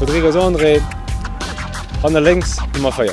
Rodrigues André, an der lénks Nummer 4.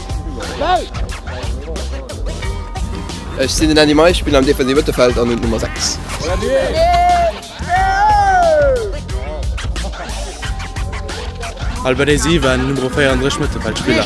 Ech sinn den Andy Mei, spillen am defensive Mëttelfeld an hunn d'Nummer 6. Albert Desi war den Numero 34 Mëttelfeldspiller.